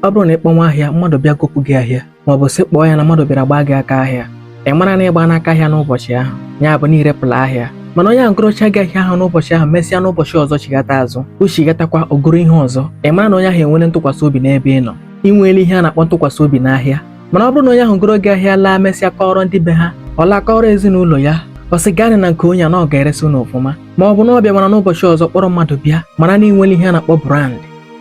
ọ bụrụ na ị kpọnwa ahịa mmadụ bịa gopụ gị ahịa ma ọ bụ sị kpọọ ya na mmadụ bịara gbaa gị aka ahịa ị mara na ị gbaana aka ahịa n'ụbọchị ahụ ya bụ na i repụla ahịa mana onye ahụ gorocha gị ahịa ahụ n'ụbọchị ahụ mesịa n'ụbọchị ọzọ chighata azụ o chighatakwa o goro ihe ọzọ ị mara na onye ahụ enwere ntụkwasị obi n'ebe ị nọ ị nweela ihe a na-akpọ ntụkwasị obi n'ahịa mana ọ bụrụ na onye ahụ goro gị ahịa laa mesịa kọọrọ ndị be ha ọ laa kọọrọ ezinụlọ ya ọ sị gaanị na nke onye a na ọ ga-eresi unu ọfụma ma ọ bụ na ọ bịa mana n'ụbọchị ọzọ kpọrọ mmadụ bịa mara na ị nwere ihe a na-akpọ brand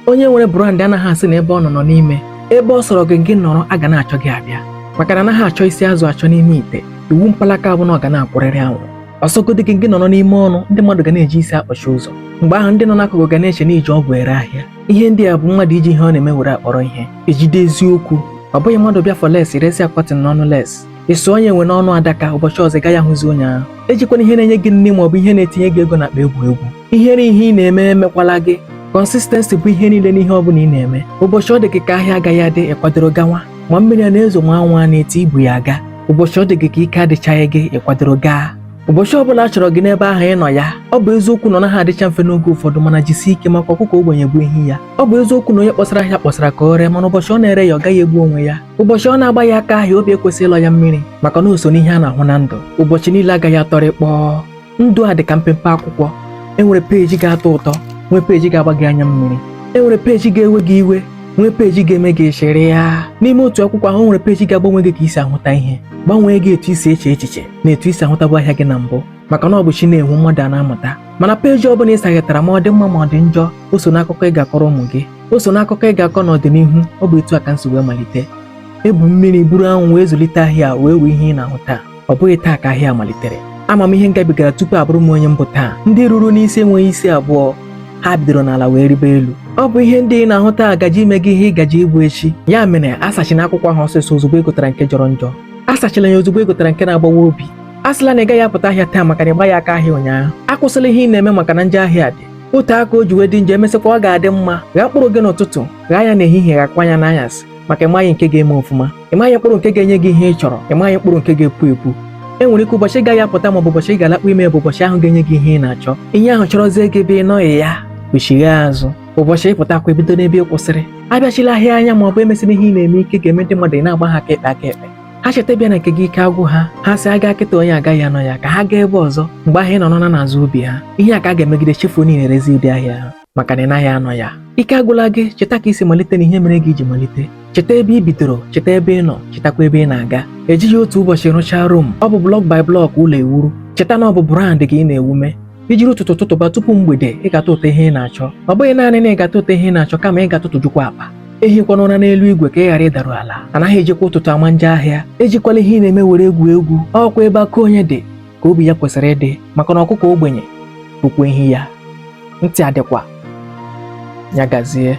onye nwere brand anaghị asị na ebe ọ nọ nọ n'ime ebe ọ sọrọ gị gị nọrọ a ga na-achọ gị abịa maka na anaghị achọ isi azụ achọ n'ime ite iwu mpalaka bụ na ọ ga na-akwụrịrị anwụrụ ọ sọgodi gị gị nọrọ n'ime ọnụ ndị mmadụ ga na-eji isi akpọchi ụzọ mgbe ahụ ndị nọ n'akụkụ ga na-eche na i ji ọgwụ ere ahịa ihe ndị a bụ mmadụ iji ihe ọ na-eme were akpọrọ ihe ejide eziokwu ọ bụghị mmadụ bịa for lace resi ya cotton n'ọnụ lace ịsụ onye enwe n'ọnụ adaka ụbọchị ọzọ ị gaghị ahụzi onye ahụ ejikwana ihe na-enye gị nri ma ọ bụ ihe na-etinye gị ego n'akpa egwu egwu ihere ihe ị na-eme emekwala gị consistency bụ ihe niile n'ihe ọbụla ị na-eme ụbọchị ọ dị gị ka ahịa agaghị adị ị kwadoro gawa ma mmiri a na-ezo ma anwụ a na-eti i bu ya aga ụbọchị ọ dị gị ka ike adịchaghị gị ị kwadoro gaa ụbọchị ọbụla a chọrọ gị n'ebe ahụ ị nọ ya ọ bụ eziokwu na ọ naghị adịcha mfe n'oge ụfọdụ mana jisie ike maka ọkụkọ ogbenye bụ ehi ya ọ bụ eziokwu na onye kpọsara ahịa kpọsara ka o ree mana ụbọchị ọ na-ereghị ọ gaghị egbu onwe ya ụbọchị ọ na-agbaghị aka ahịa obi ekwesịghị ịlọ ya mmiri maka na o so n'ihe a na-ahụ na ndụ ụbọchị niile agaghị atọrị kpọọ ndụ a dị ka mpempe akwụkwọ enwere peji ga-atọ ụtọ nwee peji ga-agba gị anya mmiri enwere peji ga-ewe gị iwe nwee peji ga-eme gị ị chịrịa n'ime otu akwụkwọ ahụ nwere peji ga-agbanwe gị ka i si ahụta ihe gbanwee gị etu i si eche echiche na etu i si ahụtabu ahịa gị na mbụ maka na ọ bụ chi na-enwu mmadụ a na-amụta mana peji ọ bụla ị saghetara ma ọ dị mma ma ọ dị njọ o so n'akụkọ ị ga-akọrọ ụmụ gị o so n'akụkọ ị ga-akọ n'ọdịnihu ọ bụ etu a ka m si wee malite ebu mmiri buru anwụ wee zụlite ahịa wee nwee ihe ị na-ahụ taa ọ bụghị taa ka ahịa malitere ama m ihe m gabigara tupu abụrụ m onye m bụ taa ndị ruru n'isi enweghị isi abụọ ha bidoro n'ala wee ribe elu ọ bụ ihe ndị ị na-ahụ taa gaje ime gị ihe ị gaje ịbụ echi ya mere asachina akwụkwọ ahụ ọsịịsọ ozugbo ị gụtara nke jọrọ njọ asachila ya ozugbo ị gụtara nke na-agbawa obi asịla na ị gaghị apụta ahịa taa maka na ị gbaghị aka ahịa ụnyaahụ akwụsịla ihe ị na-eme maka na njọ ahịa dị otu aka o ji wee dị njọ e mesịkwa ọ ga-adị mma ghaa mkpụrụ gị n'ụtụtụ ghaa ya n'ehihie ghaakwa ya n'anyasị maka ị maghị nke ga-eme ọfụma ị maghị mkpụrụ nke ga-enye gị ihe ị chọrọ ị maghị mkpụrụ nke ga-epu epu e nwere ike ụbọchị ị gaghị apụta ma ọ bụ ụbọchị ị ga-alakpu ime bụ ụbọchị ahụ ga-enye gị ihe ị na-achọ ihe ahụ chọrọzie gị ebe ị nọghị ya kpọchigha azụ ụbọchị ị pụtakwa ebido n'ebe ị kwụsịrị abịachighị ahịa anya ma ọ bụ emesighị ihe ị na-eme ike ga-eme ndị mmadụ ị na-agba ha aka ekpe aka ekpe ha cheta ịbịa na nke gị ike agwụ ha ha sị a gaa kịta onye agaghị anọ ya ka ha gaa ebe ọzọ mgbe ahụ ị nọ nọna n'azụ obi ha ihe a ka a ga-emegide chefuo na ị na-erezi ụdị ahịa ahụ maka na ị naghị anọ ya ike agwụla gị cheta ka i si malite na ihe mere gị iji malite cheta ebe ị bidoro cheta ebe ị nọ chetakwa ebe ị na-aga ejighị otu ụbọchị rụchaa rom ọ bụ block by block ụlọ ewuru cheta na ọ bụ brand gị ị na-ewume i jiri ụtụtụ tụtụba tupu mgbede ị ga-atụtụta ihe ị na-achọ ọ bụghị naanị na ị ga-atụtụta ihe ị na-achọ kama ị ga-atụtụjukwa akpa ehikwana ụra n'elu igwe ka ị ghara ịdaru ala anaghị ejikwa ụtụtụ ama njọ ahịa ejikwala ihe ị na-eme were egwu egwu ọ kwa ebe akụ onye dị ka obi ya kwesịrị ịdị maka na ọkụkọ ogbenye bụkwa ehi ya ntị adịkwa ya gazie